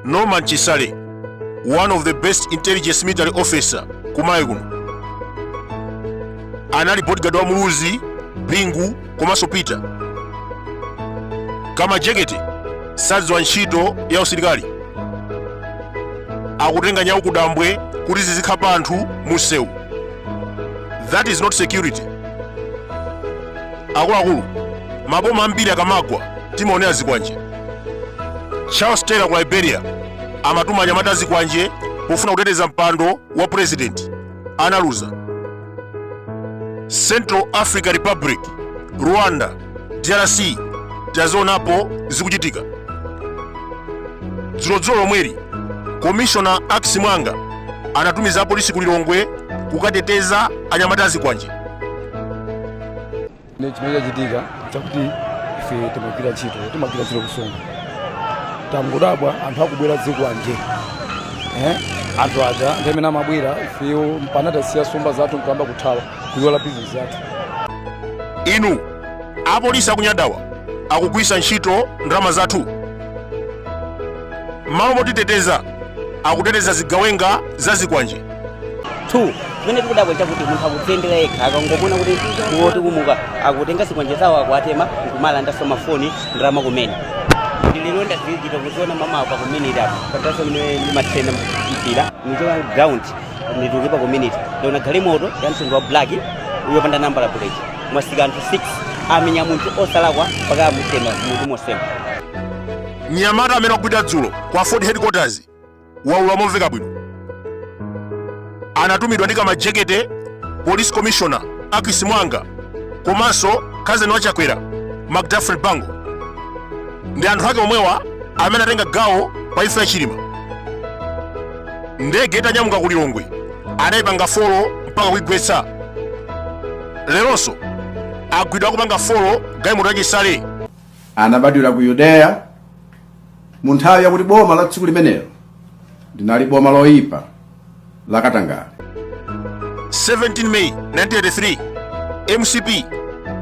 norman chisale one of the best intelligence military officer kuMalawi kuno anali bodyguard wa muluzi bingu komanso peter kamajekete sadziwa ntchito ya usilikali akutenga nyawu kudambwe kuti zizikhapa anthu musewu that is not security akuluakulu maboma ambiri akamagwa timaonera zikwanje charles taylor ku liberia amatuma anyamata azikwanje pofuna kuteteza mpando wa purezidenti analuza central africa republic rwanda drc tazionapo zikuchitika dzulodzulo lomweli komishona akis mwanga anatumiza apolisi ku lilongwe kukateteza anyamata azikwanje ne chimene chachitika chakuti ife timagwira ntchito timagwira ntchito kusonga tangodabwa anthu akubwera ndi zikwanje eh? anthu aja ndi amene amabwera ifeyo mpana tasiya somba zathu nkuyamba kuthawa kuyola bizinesi zathu inu apolisi akunyadawa akugwisa ntchito ndalama zathu mmalo motiteteza akuteteza zigawenga za zikwanje 2 zimene tikudabwa chakuti munthu akudziyendera yekha akangomuona kuti iwo tikumuka akutenga zikwanje zawo akuwatema nkuwalandanso mafoni ndalama kumene ndililo ndazilizika kuziona mmawa pa community apo katanso limene limathena mpira nichoka ground nditulukire pa community ndaona galimoto ya mtundu wa black yopanda nambala plate mwasika anthu 6 amenya munthu osalakwa mpaka amutema munthu mosema mnyamata amene wagwidwa dzulo ku ford headquarters waulula momveka bwino anatumidwa ndi kamajekete police commissioner akis mwanga komanso kazeni wa chakwera mcdafred banko ndi anthu ake omwewa amene atenga gawo pa imfa ya chilima ndege itanyamuka ku lilongwe anayipanga folo mpaka kuigwetsa leronso agwidwa akupanga folo galimoto ya chisale anabadwira ku yudeya mu nthawi yakuti boma la dziko limenelo linali boma loyipa la katangale 17 May 1983 MCP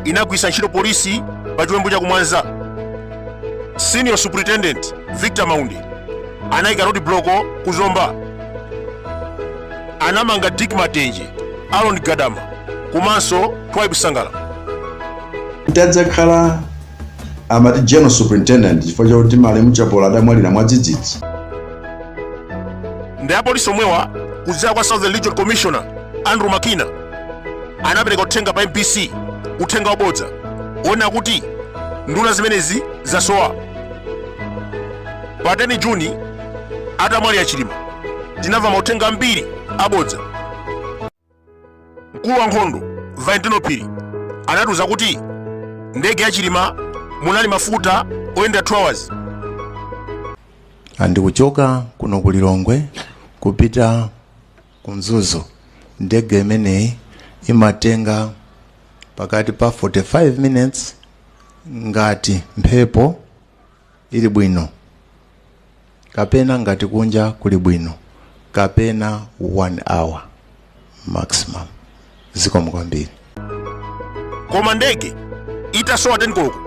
inagwisa ntchito polisi pa chiwembu cha kumwanza senior superintendent Victor Maunde anayika road block ku Zomba anamanga Dick Matenje Aaron Gadama komanso Twaibu Sangala Ndadzakhala Amati General Superintendent chifukwa chakuti malemu Chapola adamwalira mwadzidzidzi. Ndi apolisi omwewa kudzera kwa Southern Regional Commissioner Andrew Makina anapereka uthenga pa MBC, uthenga wabodza wonena kuti nduna zimenezi zasowa. Pa 10 Juni atamwalira Chilima tinamva mauthenga ambiri abodza. mkulu wa nkhondo valentino phiri anatiuza kuti ndege ya chilima munali mafuta oyenda 2 hours and kuchoka kuno ku lilongwe kupita ku mzuzu ndege imeneyi imatenga pakati pa 45 minutes ngati mphepo ili bwino kapena ngati kunja kuli bwino kapena one hour maximum zikomo kwambiri koma ndege itasowa 10 koloko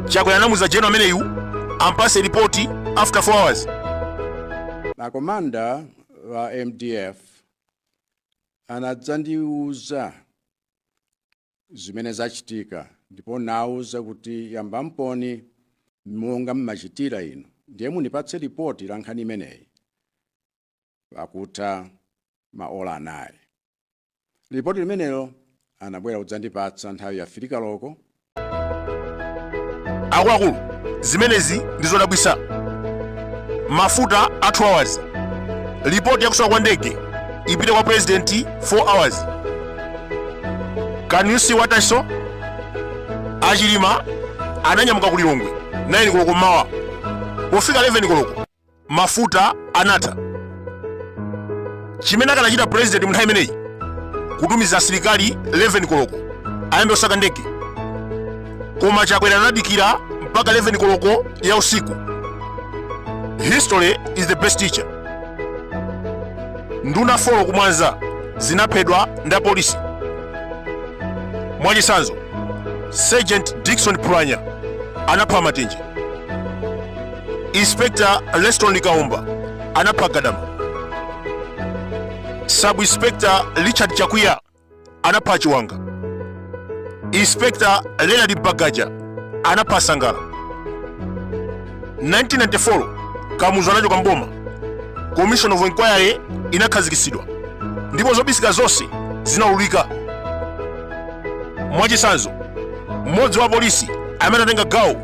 chakwera anamuuza general ameneyu ampase ripoti after 4 hours komanda wa mdf anadzandiuza zimene zachitika ndipo nawauza kuti yambamponi monga mmachitira inu ndiye mundipatse lipoti la nkhani imeneyi pakutha maola anayi lipoti limenelo anabwera kudzandipatsa nthawi ya 3 koloko akuluakulu zimenezi ndi zodabwisa mafuta a 2 hours lipoti yakusowa kwa ndege ipite kwa president 4 hours can you see what i saw achilima ananyamuka ku lilongwe 9 koloko mmawa pofika 11 koloko mafuta anatha chimene akanachita president munthawi imeneyi kutumiza asilikali 11 koloko ayambe kusaka ndege koma chakwera anadikira mpaka 11 koloko ya usiku history is the best teacher nduna 4 kumwanza zinaphedwa ndi apolisi mwachitsanzo sergeant dickson pranya anapha matenje inspector leston likaumba anapha gadama sub inspector richard chakwiya anapha chiwanga inspector leonard bagaja anapha sangala 1994 kamuzu anachoka mboma commission of inquiry inakhazikitsidwa ndipo zobisika zonse zinaululika mwachitsanzo mmodzi wa polisi amene anatenga gawo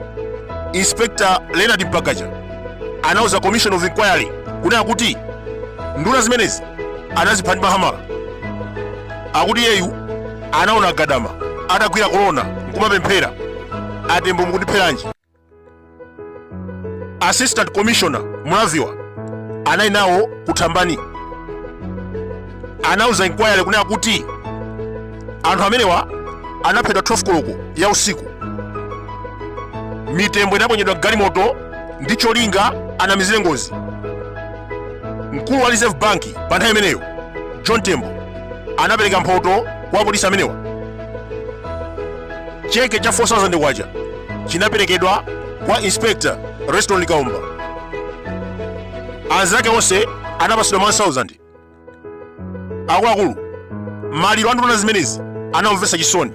inspector leonard bagaja anauza commission of inquiry kunena kuti nduna zimenezi anazipha ndi mahamala akuti iyeyu anaona gadama atagwira kolona nkumapemphera a Tembo mukundipheranji assistant commissioner mulaviwa anali nawo kuthambani anauza inquiry kunena kuti anthu amenewa anaphedwa 12 koloko ya usiku mitembo inaponyedwa m'galimoto ndi cholinga anamizire ngozi mkulu wa reserve bank pa nthawi imeneyo john tembo anapereka mphoto kwa apolisi amenewa cheke cha 4000 kwacha chinaperekedwa kwa inspector leston likaomba anzake onse anapatsidwa 1000 akuluakulu maliro a nduna zimenezi anamvetsa chisoni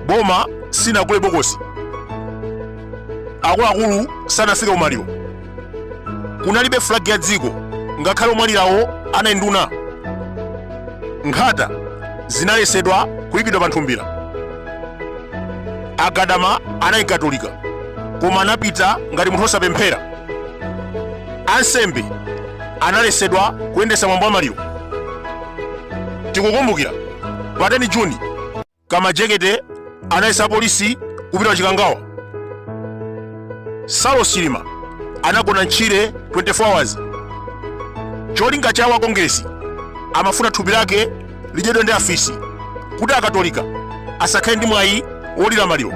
boma sinagule bokosi akuluakulu sanafike ku maliro kunalibe flag ya dziko ngakhale omwalirawo anali nduna nkhata zinalesedwa kuyikidwa pa nthumbira a gadama anali mkatolika koma anapita ngati munthu osapemphera ansembe analesedwa kuyendesa mwambo wa maliro tikukumbukira pa 10 juni kamajekete analesa apolisi kupita ku chikangawa saulos chilima anagona m'tchire 24 hours cholinga chawo a kongeresi amafuna thupi lake lidyedwe ndi afisi kuti akatolika asakhale ndi mwayi wolira maliro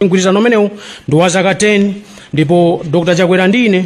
mgwirizano umenewu ndi wa zaka 10 ndipo dr chakwera ndi ine